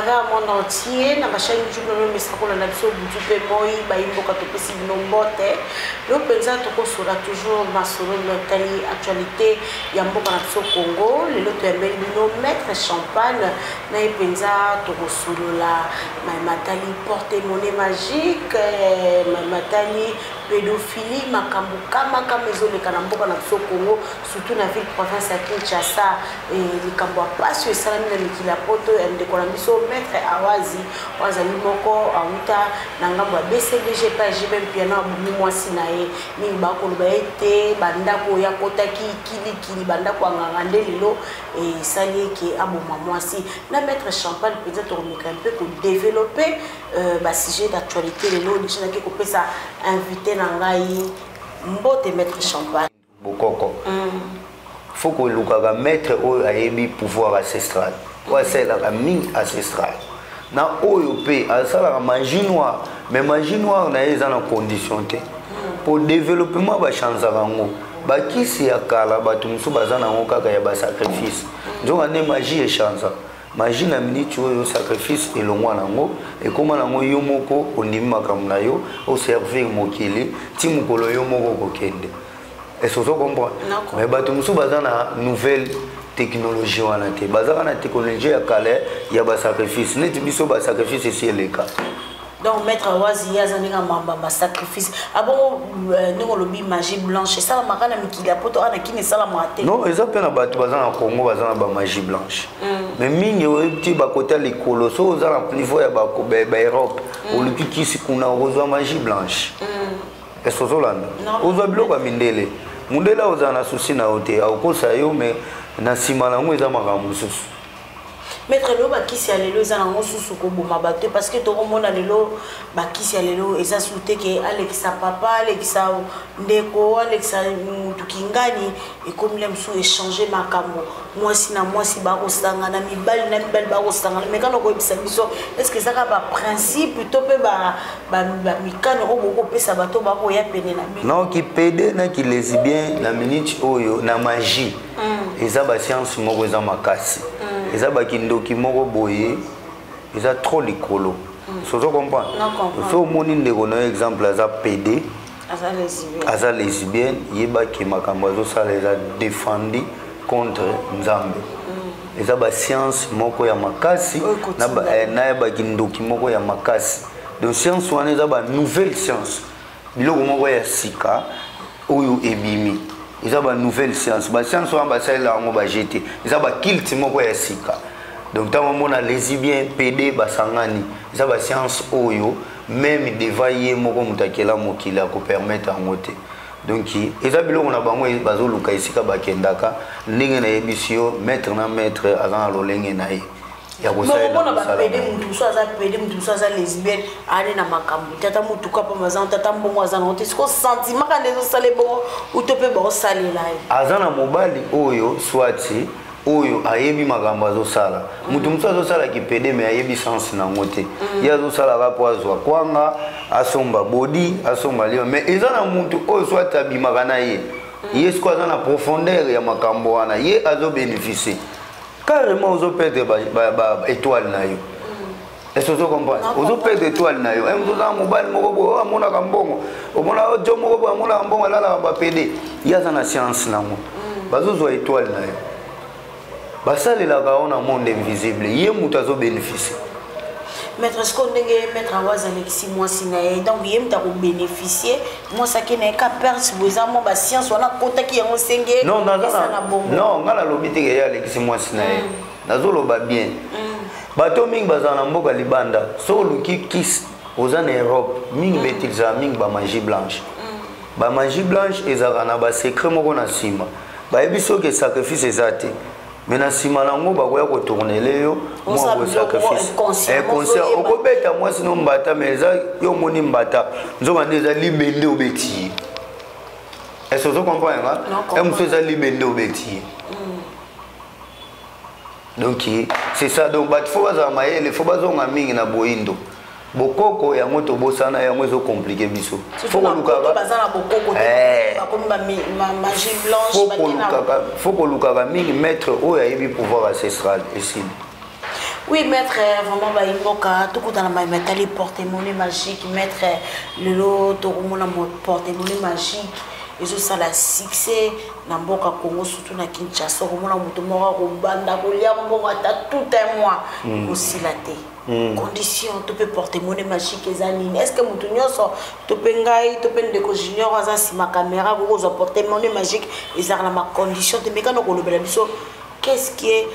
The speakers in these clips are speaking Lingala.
travers monde entier na bachaine youtube na bino misakola na biso butu mpe moi bayimboka topesi bino mbote yo mpenza tokosola toujours masolo natali actualité ya mboka na biso congo lelo toyambeli bino maître champagne na ye mpenza tokosolola mai matali porte mone magique eh, mai matali pédophilie makambo kama kama ezoleka na mboka na biso congo surtout na ville province ya kinshasa eh, likambo ya mpasi oyo esalami na mikili ya poto ya ndeko na biso maître awazi oyo azali moko awuta na ngambo ya bcbg mpe ajibe mpiana abomi mwasi na ye mingi bakoloba ete bandako oyo akotaki kilikili bandako ya nganga nde lelo esali eke aboma mwasi na maître champagne mpenza tokomeka mpe kodeveloppe euh, basujet d'actualité lelo deja naki kopesa invité na ngai mbote maître champagne bokoko mm. fo kolukaka maître oyo ayebi pouvoir ancestral oyo asalelaka mingi ancestral na oyo mpe asalaka magie noire mais magie noire na ye eza na condition te mpo développement bachanzaka yango bakisi ya kala bato mosusu baza na yango kaka ya basacrifice nzoka nde magie echanza magie na miniti oyo sacrifice elongwa na yango ekóma na yango yo moko ondimi makambo na yo oservir mokili ti mokolo yo moko okokende est-ce ozo comprendre mais bato mosusu baza na nouvelle technologie wana te bazaka na technologie ya kala ya basacrifice neti biso basacrifice esi eleka donc maître awazi ye aza ndenge mamba basacrifice abongo ah euh, ndenge olobi magie blanche esalamaka na mikili ya poto ana kini esalamaka te non eza mpe na bato baza na congo baza na bamagie blanche mm. mais mingi oyebi te bakota likolo so oza na niveau ya baeurope mm. oluki kisi kuna okozwa magie blanche mm. est ce ozolanda ozwa biloko ya mindele mundele ozala na souci na yo te akokosa yo mais na nsima na yango eza makambo mosusu maître lelo bakisi ya lelo eza nango susu koboma bato parce que tokomona lelo bakisi ya lelo eza susu te ke alekisa papa alekisa ndeko alekisa mutu kingani ekomi la mosusu echange makambo mwasi na mwasi bakosangana mibali na mibali bakosangana mekana koyebisa biso est ce que ezaka baprincipe to mpe bamikano oyo bokopesa bato bakoya pene na bino non kipede na kilesibien na minute oyo na magie mm. eza basianse moko eza makasi mm. eza bakindoki moko boye eza trop likolo mm. sozo comprendre soki omoni ndeko na yo exemple aza pede aza lesbienne yebaki makambo azosala eza defendi contre nzambe eza basianse moko ya makasi na ya eh, bakindoki moko ya makasi donc science wana eza ba nouvelle science biloko moko ya sika oyo ebimi eza ba nouvelle science ba science wana basalela yango baje te eza bakilte moko ya sika donc ntango omona lesibien pede basangani eza ba science oyo meme devant ye moko moto akela mokili akopermettre yango te donc eza biloko na bango bazoluka esika bakendaka ndenge nayebisi yo maître na maître aza na lolenge na ye ya kosalela mona ba pede mutu musu aza pede mutu musu aza lesbienne ane na makambo tata mutuka mpo mazango tata mbongo aza nango te siko sentiment kanda ezosala ebongo uto mpe baosalela ye aza na mobali oyo swati oyo ayebi makambo azosala moto mosusu azosala kipede me ayebi sense nango te mm. ye azosalaka mpo azwa kwanga asomba bodi asomba liwa me eza na moto oyo swati abimaka na ye mm. ye siko aza na profondeur ya makambo wana ye azobeneficie carrément ozo perdre ba, ba, ba étoile na yo est-ce ozo comprendre ozo perdre étoile na yo oza mobali moko boye amonaka mbongo omona jo moko boye amonaka mbongo alalaka bapede ye aza na science nango mm. bazozwa étoile na yo basalelaka yango na monde invisible ye moto azobénéficie maître siko ndenge maître yango azalekisi mwasi na ye donc ye moto akobénéficie mwasi ake na ye ka perse bo eza mwa basiance wana akotaki yango senge non ngai nalobi te keye alekisi mwasi na ye mm. nazoloba bien mm. bato mingi bazala na mboka libanda so oluki kis oza na europe mingi mm. betilizala mingi bamagie blanche bamagie blanche ezalaka na basecret moko na nsima bayebi soki sacrifice eza te mais na nsima nango bakoya kotournele yo mwa bosacrifice inconscient eh, okobeta mwasi no mbata mais eza yo omoni mbata nzoka nde eza libende obeti ye est ce ozo comprendre nga e mosusu eza libende obeti ye hmm. donc c'est ça donc bato fo bazala mayele fo bazonga mingi na boyindo bokoko yango tobosana yango ezo komplike biso fo kolukaka mingi maître oyo ayebi pouvoir ancestral esili Oui, maître, euh, vraiment, bah, il moka, tout dans la main, mais t'as les porte-monnaie magique, maître, euh, le lot, tout le monde porte-monnaie magique, et tout ça, la succès, na mboka Congo, surtout na Kinshasa, tout le monde a mboka, tout un mois, hmm. aussi la terre. Mm. condition to mpe porte mone magique eza nini est ce que motu nyonso to mpe ngai to mpe ndeko junior aza nsima caméra akoki kozwa porte mone magique ezalaka na macondition te mekana kolobela biso qu'est ce qui est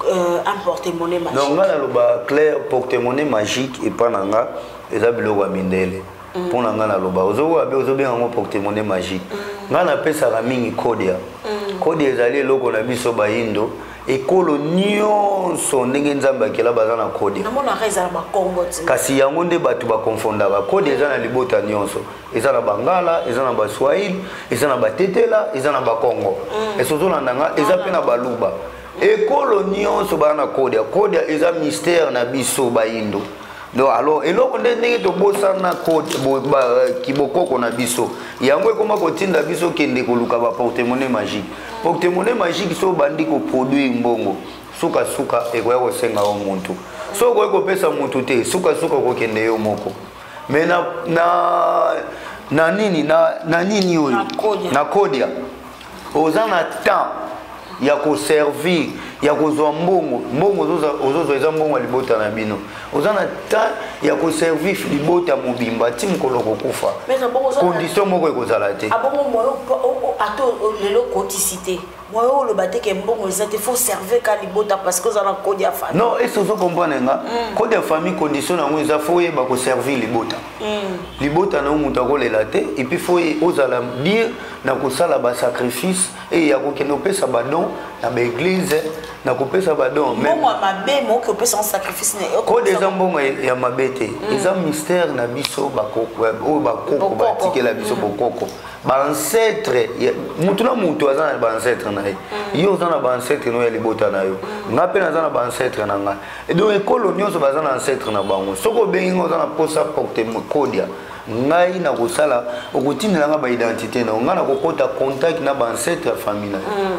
euh, un porte mone magique donc ngai naloba claire porte mone magique epa na nga eza biloko ya mindele mm. mpo na ngai naloba ozokoka mpe ozobenga yango portemone magique mm. ngai napesaka mingi kodia mm. kodia ezali eloko na biso bayindo ekolo nyonso ndenge nzambe akela baza na kode kasi yango nde bato bakonfondaka kode eza na libota nyonso eza na bangala eza na baswahili eza na batetela eza na bakongo mm. esozolanda nga eza mpe na baluba ekolo nyonso baa na kodia kodia eza mistere na biso bayindo donc alors eloko nde ndenge tobosana euh, kibokoko na biso yango ekoma kotinda biso kende koluka baportemone magique portemone magique so obandi koproduire mbongo sukasuka ekoya kosenga yo muntu so okoki kopesa muntu te sukasuka okokende yo moko me na, na, na nini na, na nini oyo na kodia oza na temps ya koservir ya kozwa mbongo mbongo ozozwa eza mbongo ya libota na bino oza na temps ya koservir libota mobimba ti mokolo kokufa condition moko ekozala te ah, ata lelo okotisi te moye oloba te ke mbongo eza te faut servir ka libota parce que oza na code ya famille non esi ozo comprendre nga hmm. code ya famille condition yango eza fo oyeba koservir libota Mm. libota na yo moto akolela te epuis fo ozala bien na kosala basacrifice eye ya kokende opesa badon na baeglize na kopesa badon kode eza mbongo ya mabe te mm. eza mystère na biso oyo bakoko batikela biso mm. bokoko baancetre motu na motu aza na baancetre na ye yo oza na baancetre no ya libota na yo ngai mpe naza na baancetre na ngai Et donc ekolo nyonso baza na ancêtre na bango soki obengi nga oza na mposa porte kodia ngai nakosala okotindela nga baidentité na yo ngai nakokota contact na baancêtre ya famille na yo mm.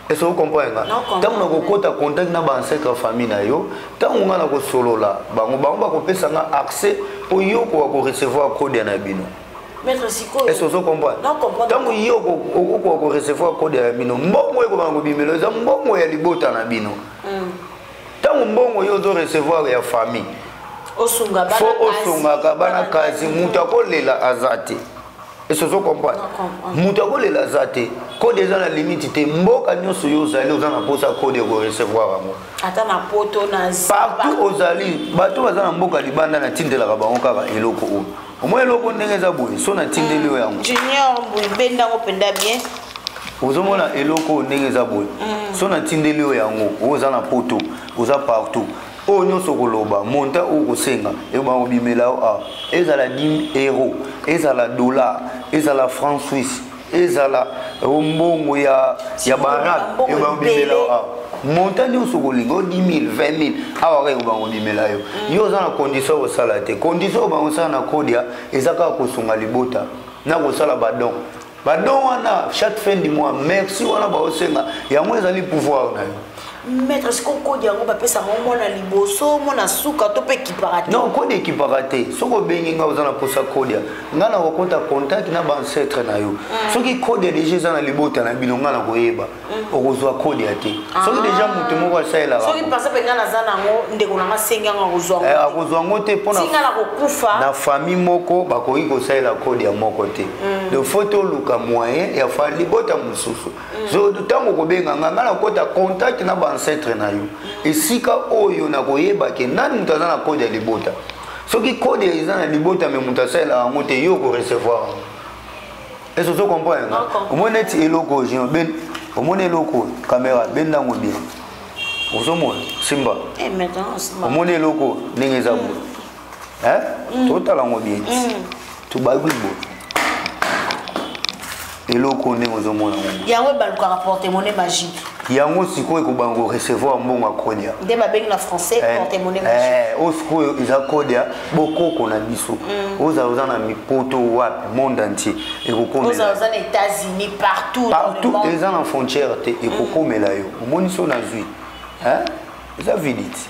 ese okomprendre nga ntango nakokɔta contact na baancêtre ya famille na yo ntango ngai nakosolola bango bango bakopesa nga accès mpo yo okoka korecevoir kodia na bino ese ozokomprendre ntango ye okoka korecevoir kodia ya bino mbongo ekobanga kobimelo eza mbongo ya libota na bino ntango mbongo yo ozo recevoir ya famille fo osungaka bana kasi moto akolela aza te ese ozo comprendre moto akolela aza te kode eza na limite te mboka nyonso yo ozali oza na mposa kode okorecevoir yango partout ozali bato baza na mboka libanda natindelaka bango kaka eloko oyo omoi eloko ndenge eza boye so natindeli yo yango junior mbuyi benda yango mpenza bien ozomona eloko oyo ndenge eza boye mm. so natindeli yo yango oyo oza na poto oza partout oyo nyonso okoloba monta oyo okosenga ekobanga kobimela yo awa ezala 10 euro ezala dollar ezala franc suisse ezala o mbongo ya ya barak yo babimela awa montant nyonso okolinga o 10000 20000 awa kaka bango bimela yo mm. yo oza na condition kosala te condition oyo bango osala na kodia eza kaka kosunga libota na kosala badon badon wana chaque fin du mois merci wana baosenga yango ezali pouvoir na yo maître sikoyo kode yango bapesaka yango mwana liboso mwana suka to mpe ekipaka te non kode ekipaka te soki obengi ngai oza na mposa kodia ngai nakokota contact na baancetre na yo mm. soki kodia deja eza na libota na bino ngai nakoyeba mm. okozwa kodia te ah. soki deja moto moko asalelaka soki mpenza mpe ngai naza nango ndeko na ngai sengi yango akozwa eh, akozwa yango te mpona nakokufa na famille moko bakoki kosalela kodia moko te mm. donc fo toluka moyen ya fa libota mosusu ntango okobenga ngai ngai nakota contact na baancetre na yo esika oyo nakoyeba ke nani moto aza na kode ya libota soki kode eza na libota me moto asalela yango te yo okorecevoir yango ese ozo comprendre nga omoni neti eloko oyo jino ben omoni eloko oyo kamera benda yango bien ozomona simba eh, omoni eloko ndenge eza boye hmm. eh mm. totala ngo bien mm. tobaki bo eloko ndenge ozomona ngo yango ebalukaka porte-monnaie magique yango sikoyo ekobanga korecevoir mbongo ya kodia nde babengi na français eh, porte-monnaie eh, magique oyo sikoyo eza kodia bokoko na biso mm. ozala oza na mipoto wapi monde entier ekokomela oza na états-unis partout partout eza na frontière te ekokomela yo omonisi oyo nazwi eza vidite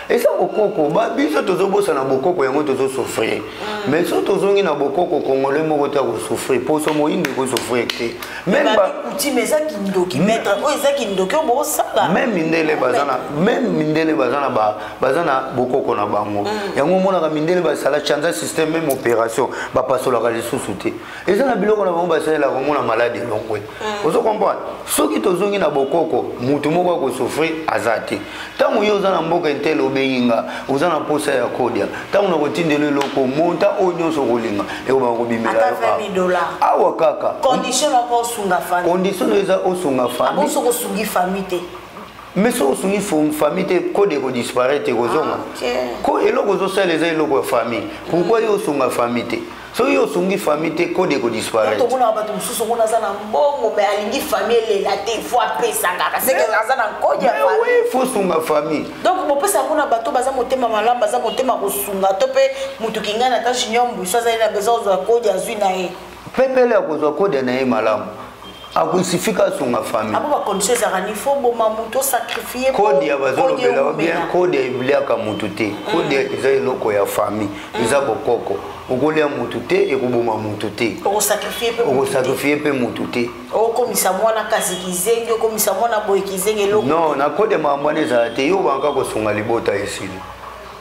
eza bokoko biso tozobosana bokoko yango tozosouffrir mm. mais so tozongi na bokoko congolais moko te akosouffrir mposo moyindu ekosouffrir te meme mindele baza na meme mindele baza na baza na bokoko na bango mm. yango omonaka mindele basala chanza système meme opération bapasolaka lisusu te eza na biloko na bango basalela komona maladi elongwe mm. ozo comprendre soki tozongi na bokoko motu moko akosouffrir aza te ntango yo oza na mboka intele obengi nga oza na mposa ya kodia ntango nakotindela eloko monta oyo nyonso okolinga ekobaka kobimela awa kaka condition oyo eza osunga famille mais soki osungi famille te kode ekodisparaître ekozonga ah, ko eloko ozosala eza eloko ya famille pourkoi yo osunga famille te soki osungi famille te kode ekodisparaîtretomonaka bato mosusu omona aza na mbongo mai alingi famille elela te fo apesa kaka seke aza na nkodi ya famille fo sunga famille donc bopesa yango na bato baza motema malamu baza motema kosunga to mpe motu kingai na ta junior mbusu azali na besoin kozwa kodi azwi na ye pepele akozwa kode na ye malamu akunsifika asunga famille abo ba condition ezalaka ni fo boma moto sacrifier kodi ya bazolobela ba bien kodi ebiliaka moto te mm. kodi eza eloko ya famille mm. eza bokoko okolia moto te ekoboma moto te okosakrifie mpe moto te okomisa mwana kasi kizengi okomisa mwana boye kizengi eloko non na kodi ya makambo wana ezala te yo obangaka kosunga libota esili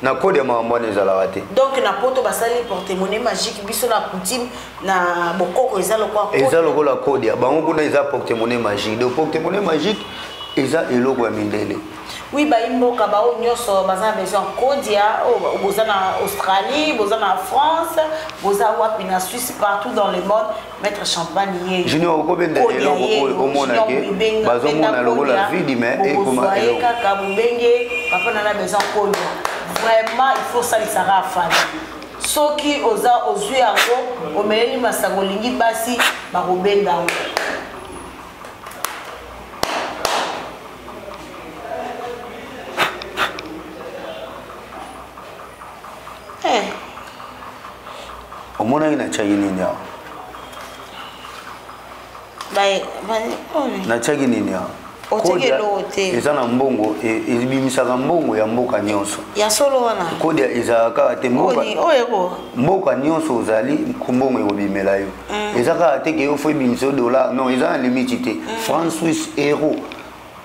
na kode ya makambo wana ezalaka te donc na poto basali portemone magique biso na coutume na bokoko eza lokola eza lokola kode ya bango kuna eza portemone magique donc portemone magique eza eloko ya mindele oui bayi mboka baoyo nyonso baza na besoin kodia oh, boza na australie boza na france boza wapi na suisse partout dans le monde Maître Champagne ye. Junior okobenda eloko oyo komona ke bazomona lokola vide mais ekoma eloko. Kaka bobenge papa na na besoin konya. Vraiment il faut salisa ka afali. Soki oza ozwi yango omeleli masanga olingi basi bakobenda yango. eh. omonaki natyaki nini awa oh, natyaki nini awa eza na mbongo e, ebimisaka mbongo ya mboka nyonso ya solo wana kodia ezalaka kaka te mboka nyonso ozali mbongo ekobimela yo mm. eza kaka te ke yo fo ebimisa yo dollar non eza na limiti te mm. franc suisse euro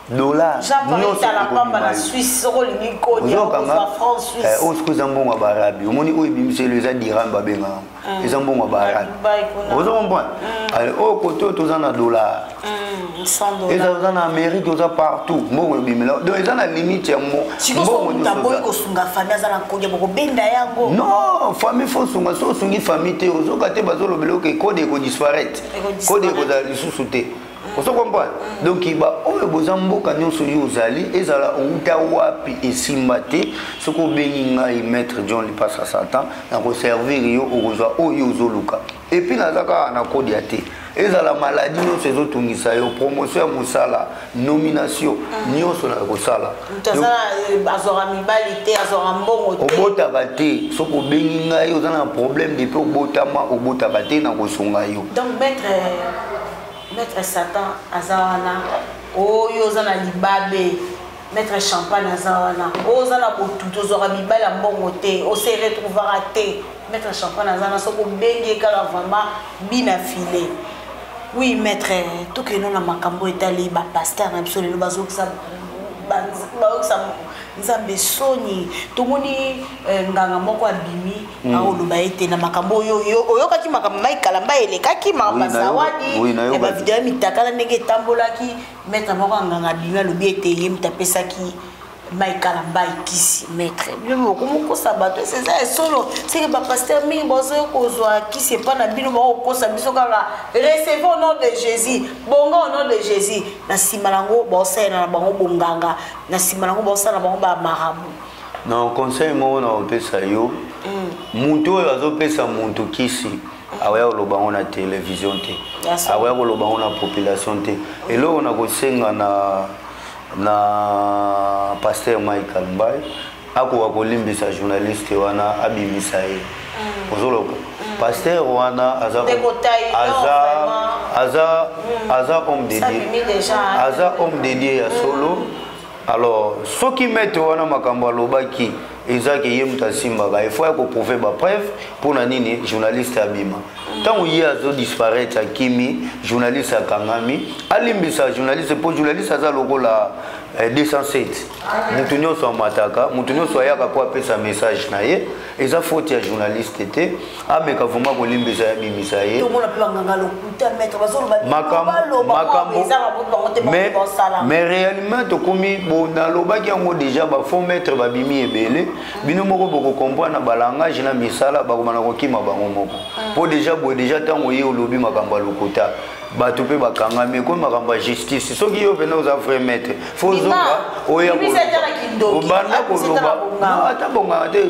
dollar nyonso oyo sikoyo eza mbongo ya baarabi omoni oyo ebimiselo eza diran babengaka mm. eza mbongo ya baarabi ozo comprendre mm. oyo kote oyo toza na dollar mm, eza oza na amérique oza partout mbongo ebimela donc eza na limite ya mbongo non famille fo osunga so osungi famille te ozoka te bazolobela oke kode ekodisparaître kode ekozala lisusu te ozo comprendre donc baoyo boza mboka nyonso yo ozali ezala outa wapi esimba te soki obengi ngai maître john lipasa satan nakoservir yo okozwa oyo ozoluka epuis naza kaka na kodia te ezala maladi nyonso ezotungisa yo promotion ya mosala nomination mm. nyonso na kosala obotaka te soki obengi ngai oza na problème depuis obotama obotaka te na kosunga yo Maître Satan aza wana oyo oza na libabe maître champagne aza wana oyo oza na botutu ozwaka mibali ya mbongo te ose retrouvaka te maître champagne aza wana soki obengi ye kaka vraiment bina file oui maître tokeno na makambo etali bapaster na biso lelo bazokisa bayokisa nzambe soni tomoni eh, nganga moko abimi Mm. aoloba ete na makambo oyo oyokaki makambo mai kalamba elekaki makambo zawadi ya bavideo ya mitakala ndenge etambolaki maître moko anganga bimi alobi ete ye moto apesaki mai kalamba ekisi maître bino bokomokosa bato ese eza ya solo seke bapaster mingi bazoya kozwa kisi epa na bino bakokosa biso kaka recevez au nom de jésus bongo au nom de jésus na nsima na yango baosalela na bango bonganga na nsima na yango baosala na bango bamarabu na conseil moko na kopesa yo mm. motu oyo azopesa motu kisi akoya koloba yango na televizio te akoya koloba yango na population te eloko na kosenga na na paster michael mbai akoka kolimbisa journaliste wana abimisa ye mm. ozoloba mm. paster wana aza aza mm. aza homme de dieu aza homme de dieu ya solo alors soki maître wana makambo alobaki eza ke ye moto asimbaka il faut ya koprouve bapreuve mpo na nini journaliste abima ntango ye azodisparaître akimi journaliste akangami alimbisa journaliste mpo journaliste aza lokola 207 eh, moto nyonso amataka moto nyonso ayaka mpo apesa message na ye eza faute ya journaliste te ameka vraimen kolimbisa ya bimisa ye mais réellement tokomi bo nalobaki yango déjà bafond maître babimi ebele bino moko bokocomprendre na balangage na misala bakoma na kokima bango moko mpo ah. déjà boye déjà ntango ye olobi makambo ya lokuta bato mpe bakangami ekomi makambo ya justice soki yo mpena oza vrai maître fo ozonga oya obanda koloba ata bonganga te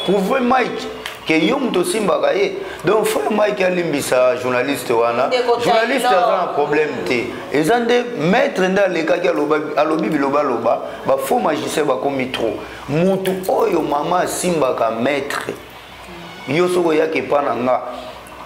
prouve mike ke yo moto osimbaka ye donc frère mike alimbisa journaliste wana journaliste aza na problème te eza nde maître nde alekaki alobi bilobaloba bafaux magicien bakomi trop motu oyo mama asimbaka maître yo soki oyaka epa na nga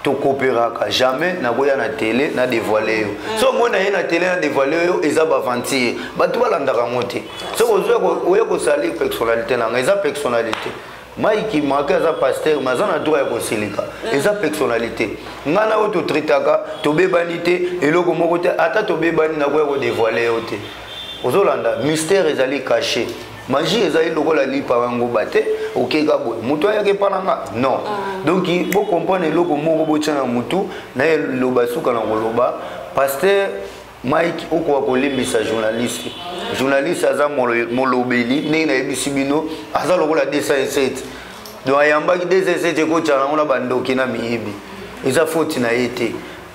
tokooperaka jamais nakoya na tele na devoile yo mm. so omoi na ye na tele na devoile yo eza baventure bato balandaka yango te soki ozwa oya kosalir personnalité na nga eza personnalité maiki maki aza paster me aza na droit ya kosilika mm. eza personnalité ngai na oyo totritaka tobebani te eloko moko te ata tobebani nakoya kodevoile yo te ozolanda mystère ezali caché magie ezali lokola lipa yangoba te okeka boye motu ayaki epa na nga non ah. donc bocomprendre eloko moko botya na motu naye loba suka na koloba paster mike okoka kolembisa journaliste journaliste aza molobeli ndenge nayebisi bino aza lokola 207 donc ayambaki 207 ekotyana yango na bandoki na miyibi eza foti na ye te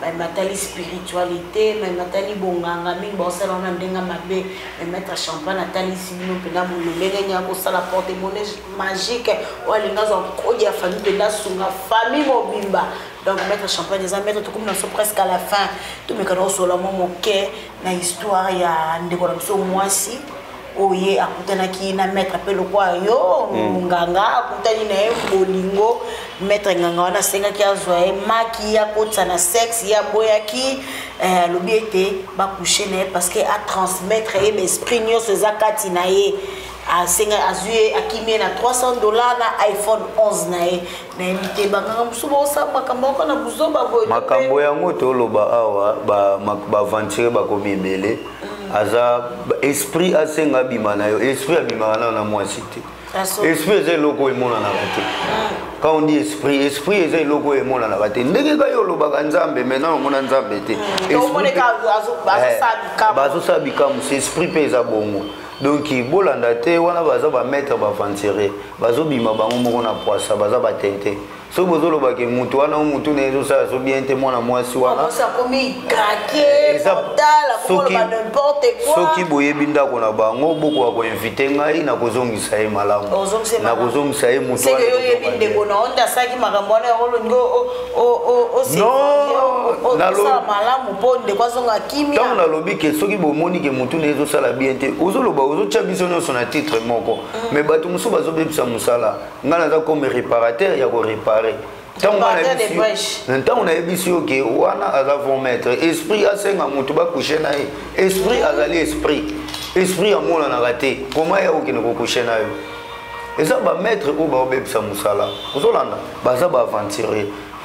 mai matali spiritualité mai matali bonganga mingi baosala wana ndenge mabe mai maître champagne atalisi bino mpenza bololenge nini akosala porte monnaie magique oyo alingi azwa nkodi ya famille mpenza asunga famille mobimba donc maître champagne eza maître tokomi na biso presque à la fin tomekana kosolola mwa moke na histoire ya ndeko na biso mwasi oyo oh, ye akutanaki na maître mpe lokwa yo monganga mm. akutani na ye bolingo maître nganga wana asengaki azwa ye maki ye akotisa na sexe ye aboyaki eh, alobi ete bakushe na ye parce que atransmettre ye baesprit nyonso eza kati na ye asenga azwi ye akimi ye na 300 dollar na iphone 11 na ye nayebi te banganga mosusu baosala makambo yoko na buzoba boye makambo yango toloba awa baaventure bakomi ebele mm. aza esprit asenga abima na yo esprit abimaka nayo na mwasi te esprit eza eloko oyo emonanaka te mm. quand on dit esprit esprit eza eloko oyo emonanaka te ndenge kaka yo olobaka nzambe maintenant omona nzambe te mm. eh, bazosala bikamusi esprit mpe eza bongo donc bolanda te wana baza bamaître baaventure bazobima bango moko na pwasa baza batente soki bozoloba ke motu wana o motu na ye ezosala so bien te mwana mwasi wanasoki boyebi ndako na bango bokoka koinvite ngai na kozongisa ye malamu na kozongisa ye motu ntango nalobi ke soki bomoni ke motu na ye ezosala bien te ozoloba ozotya biso nyonso na titre moko mais bato mosusu bazobebisa mosala ngai naza comme réparateur ya korépare ntango nayebisi yo ke wana aza von maître esprit asenga moto bakushe na ye esprit azali esprit esprit amonanaka te koma ya okende kokushe na yo eza bamaître oyo baobebisa mosala ozolanda baza baaventurier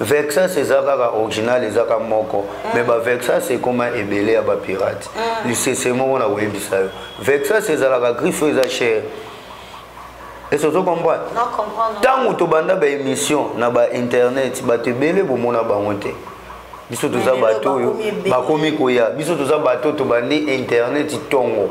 vexas eza kaka original eza ka moko mm. mais bavexas ekoma ebele ya bapirate mm. lisese moko na koyebisa yo vexas ezalaka griffe eza chere ese ozo comprendre ntango tobanda baémission na bainternet bato ebele bomona bango te biso toza bato oyo bakomi koya biso toza bato tobandi internet ntongo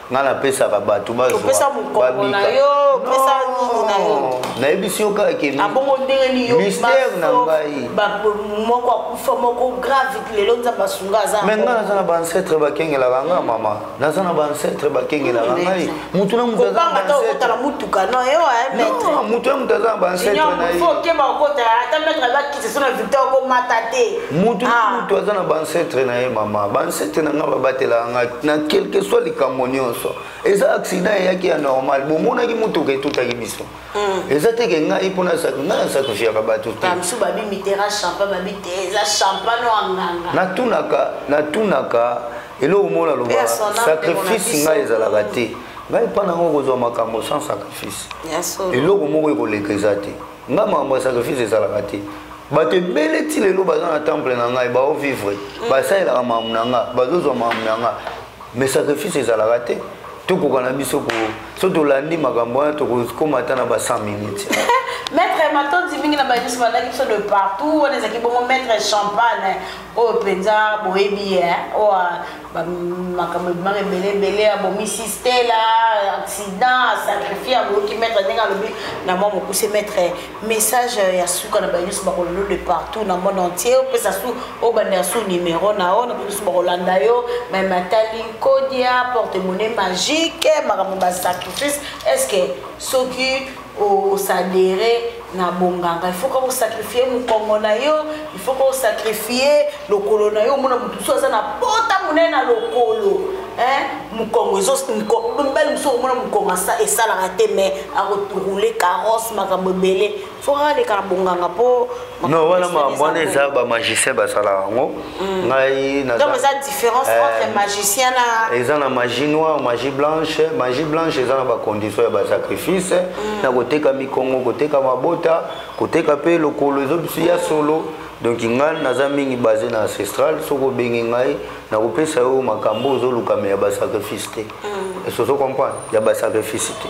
nga napesaka bato bazwapesa mokongo na yo pesa nini na yo nayebisi yo kaka ke abongo ah, ndenge nini mystère na ngai moko akufa moko grave lelo nzambe asunga aza me nga naza na baancetre bakengelaka nga mama naza na baancetre bakengelaka hmm, ngai motu na motu azaotala motuka no motu na motu aza na baancetre na ye mutu ah. mutu aza na bancetre na ye mama bancetre na ngai babatelaka ngai na quelque soit likambo nyonso eza accident eyaki ya normal bomonaki motuka etutaki biso hmm. eza teke ngai mpona ngai nasakrifiyaka bato te natunaka natunaka eloko moko naloba sacrifice ngai ezalaka te ngai mpa nango kozwa makambo sans sacrifice eloko moko ekoleka eza te nga makambo ya sacrifice ezalaka te bato ebele ti lelo baza na temple na ngai baovivre mm. basalelaka makambo na nga bazozwa makambo na nga mais sacrifice ezalaka te tokoka na biso ko so tolandi makambo wana tokokoma ata na ba 100 minutes maître matondi mingi na bayebi biso balaki biso de partout wana ezalaki bongo maître champagne oyo mpenza boyebi ye oyo makambo ebimaka ebele ebele abomisi stela accident asacrifie aboyoki maître ndenge alobi na mwa mokuse maître message ya suka na baye nyonso bakolelo de partout na monde entier opesa su obanda ya su numero na yo na baye nyonso bakolanda yo me matali nkodia porte monnaie magique makambo basacrifice est ce que soki osadere na bonganga ifaut kaka osakrifie mokongo na yo ifaut kaka osakrifie lokolo na yo omona moto mosusu aza na pota monene na lokolo mokongo ezobali mosusu okomona mokongo esalaka te mai akotourule carrosse makambo ebele fo kaka leka na bonganga mpo no wana wana eza bamagicien basalaka yango Mm. ngai donc eza différence eh, entre magicien na eza na magie noire magie blanche magie blanche eza na bacondition ya basacrifice mm. na koteka mikongo koteka mabota koteka mpe lokolo ezobisi ya solo donc ngai naza mingi base na ancestral soki obengi ngai nakopesa yo makambo ozolukame ya basacrifice te mm. esoso comprendre ya basacrifice te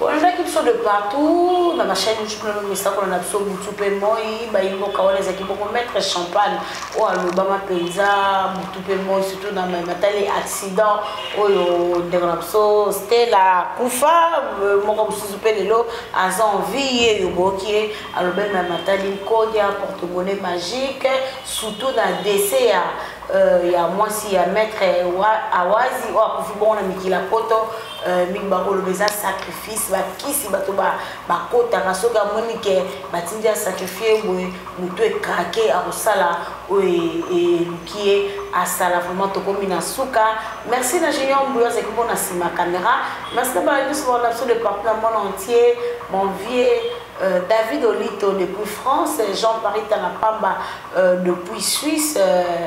olobaki biso de partout na bachaine youtube na misakola na biso butu mpe moi bayimboka wana ezalaki boko maître champagne oyo alobama mpenza butu mpe moi surtout na matali accident oyo ndeko na biso stela kufa euh, moko mosusu mpe lelo aza envie ye yo boyoki ye alobami na matali nkodia portemone magique surtout na dese ya euh, ya mwasi ya maître awazi oyo akufi bongo na mikili ya poto Euh, mingi bakoloba eza sacrifice bakisi bato bakotaka soki amoni ke batindi ya sacrifie boye motu ekrake akosala oyo e, eluki ye asala vraiment tokomi na suka merci na junior mbuyo azalaki mpo na nsima caméra merci na bana nyonso baona biso de partout na monde entier mon vieux Euh, David Olito depuis France, Jean-Paris Tanapamba euh, depuis Suisse, euh,